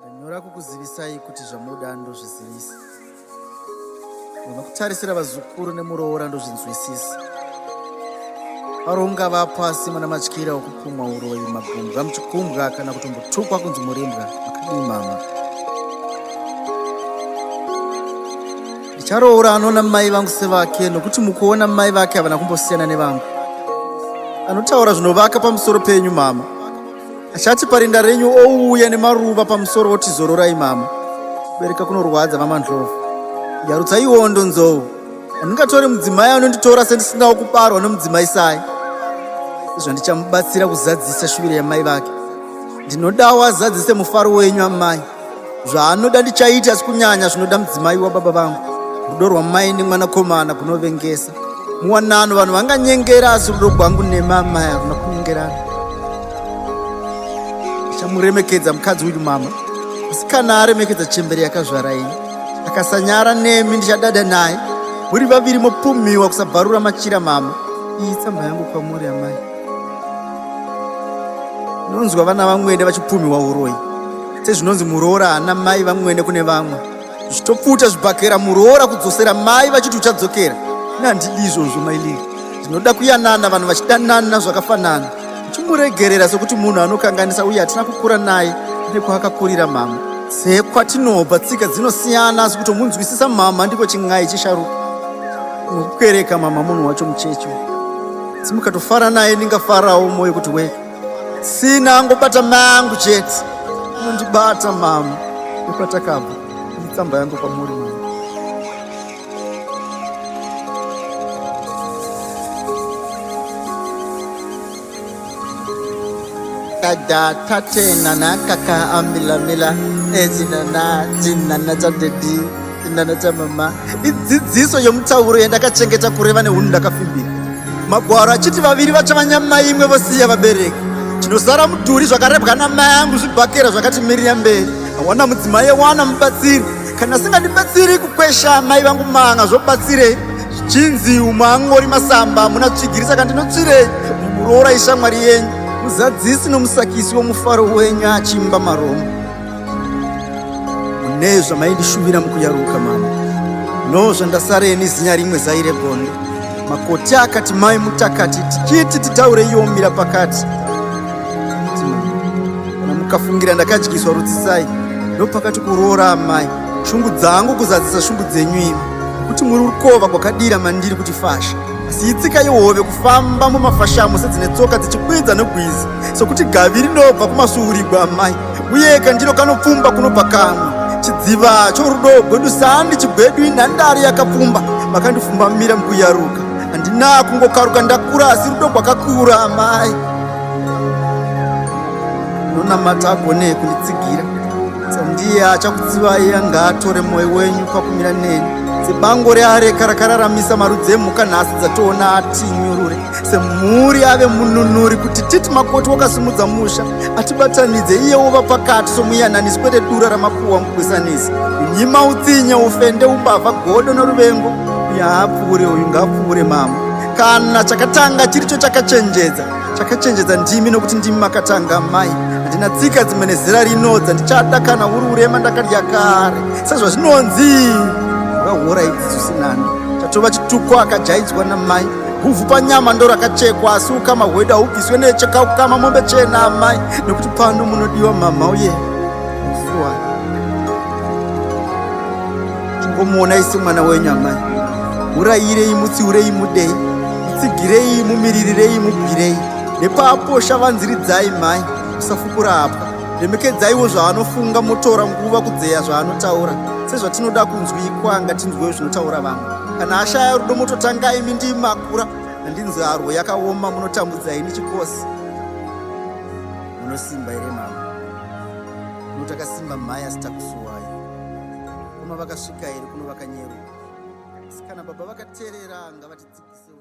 ndanyora kukuzivisai kuti zvamoda ndozvizivisa unokutarisira vazukuru nemuroora ndozvinzwisisa aro ungava pasi muna matyira okupumwa uroyi magumbwa muchikumbwa kana kutombotukwa kunzi murimbwa makadii mama Ndicharoora anoona mai vangu sevake nokuti mukuona mai vake havana kumbosiyana nevangu. Anotaura zvinovaka pamusoro penyu mama. Achati parinda renyu ouuya nemaruva pamusoro oti zororai mama. Kubereka kunorwadza mama Ndlovu. Yarutsa iwondo nzou. Handingatore mudzimai anonditora sendisingawo kubarwa nomudzimai sai. Zvandichambatsira kuzadzisa shuviro yamai vake. Ndinodawo azadzise mufaro wenyu amai. zvaanoda ndichaita asi kunyanya zvinoda mudzimai wababa vangu rudo rwamai nemwanakomana kunovengesa muwanano vanhu vanganyengera asi rudo gwangu nemamai haruna kunyengerana ndichamuremekedza mukadzi uyu mama asi kana aremekedza chembere yakazvara ini akasanyara nemi ndichadada naye muri vaviri mopumhiwa kusabvarura machira mama iyi tsamba yangu kwamuri amai Ndinonzwa vana vamwene vachipumhiwa uroyi sezvinonzi muroora haana mai vamwene kune vamwe zvichitopfuta zvibhakera muroora kudzosera mai vachiti uchadzokera nandidi izvozvo mailiri ndinoda kuyanana vanhu vachidanana zvakafanana uchimuregerera sekuti munhu anokanganisa uye hatina kukura naye nekwaakakurira mama sekwatinobva tsika dzinosiyana asi kutomunzwisisa mama ndiko chin'ai chesharuka nekukereka mama munhu wacho mucheche asi mukatofara naye ndingafarawo moyo kuti we sina angobata mangu chete unondibata mama nekwatakabva itsamba yangu kwamuri mama kada tate nana kaka amila mila ezina na jinana chadedi Ndaneta mama, idzidziso yemutauro yandakachengeta kureva nehunhu ndakafimbira. Magwaro achiti vaviri vachava nyama imwe vosiya vabereki. Chinosara mudhuri zvakarebwa namai angu zvibhakera zvakati mirira mberi. Awana mudzimai wana mubatsiri. Kana singandibatsiri kukwesha amai vangu manga zvobatsirei? Zvichinzi umwe angori masamba muna tsvigirisa kandinotsvirei? Muroora ishamwari yenyu. Muzadzisi nomusakisi womufaro wenyu achimba maroma. mune zvamaindishuvira mukuyaruka mama no zvandasara ini zinya rimwe zaire gondo makoti akati mai mutakati tichiti titaure yomira pakati mukafungira ndakadyiswa rutsisai ndopakati kuroora amai shungu dzangu kuzadzisa shungu dzenyu imi kuti muri rukova kwakadira mandiri kuti fasha Asi itsika yehove kufamba mumafashamu sedzine tsoka dzichikwidza negwizi sokuti gavi rinobva kumasuurigwa amai uye kandiro kanopfumba kunobva kamwe chidziva chorudo gwedu sandi chigwedu inhandare yakapfumba makandifumbamira mukuyaruka handina kungokaruka ndakura asi rudo gwakakura amai nonamata agone kunditsigira ndiye achakudzivai angaatore mwoyo wenyu pakumira neni sebango reareka rakararamisa marudzi emhuka nhasi dzatoona atinyurure semhuri ave mununuri kuti titi makoti wakasimudza musha atibatanidze iye wova pakati somuyananisi kwete dura ramakuwa mugwisanisi nyima utsinye ufende umbavha godo noruvengo uyo haapfuure uyu ngaapfuure mama kana chakatanga chiricho chakachenjedza chakachenjedza ndimi nokuti ndimi makatanga mai handina tsika dzimwe nezera rino dzandichada kana uri urema ndakadya kare sezvazvinonzi vahora idzi zvisinani chatova chituko akajaidzwa namai huvhu panyama ndo rakachekwa asi ukama hwedu haubviswe necheka ukama mombe chena amai nekuti pano munodiwa mama uye yeah. Chingomuonai semwana wenyu amai. Urayirei, mutsiurei, mudei, mutsigirei, mumiririrei, mubwirei. Nepaaposha vanziridzai mhai, musafukura hapwa. Remekedzaiwo zvaanofunga motora nguva kudzeya zvaanotaura. Sezvatinoda kunzwikwa ngatinzwewo zvinotaura vamwe. Kana ashaya rudo mototanga imi ndii makura. Handinzi harwo yakaoma munotambudza ini chikosi. Munosimba here mama? Munotakasimba mhai asitakusuwai. koma vakasvika here kuno vakanyeruka asi kana baba vakaterera ngavatidzikisewo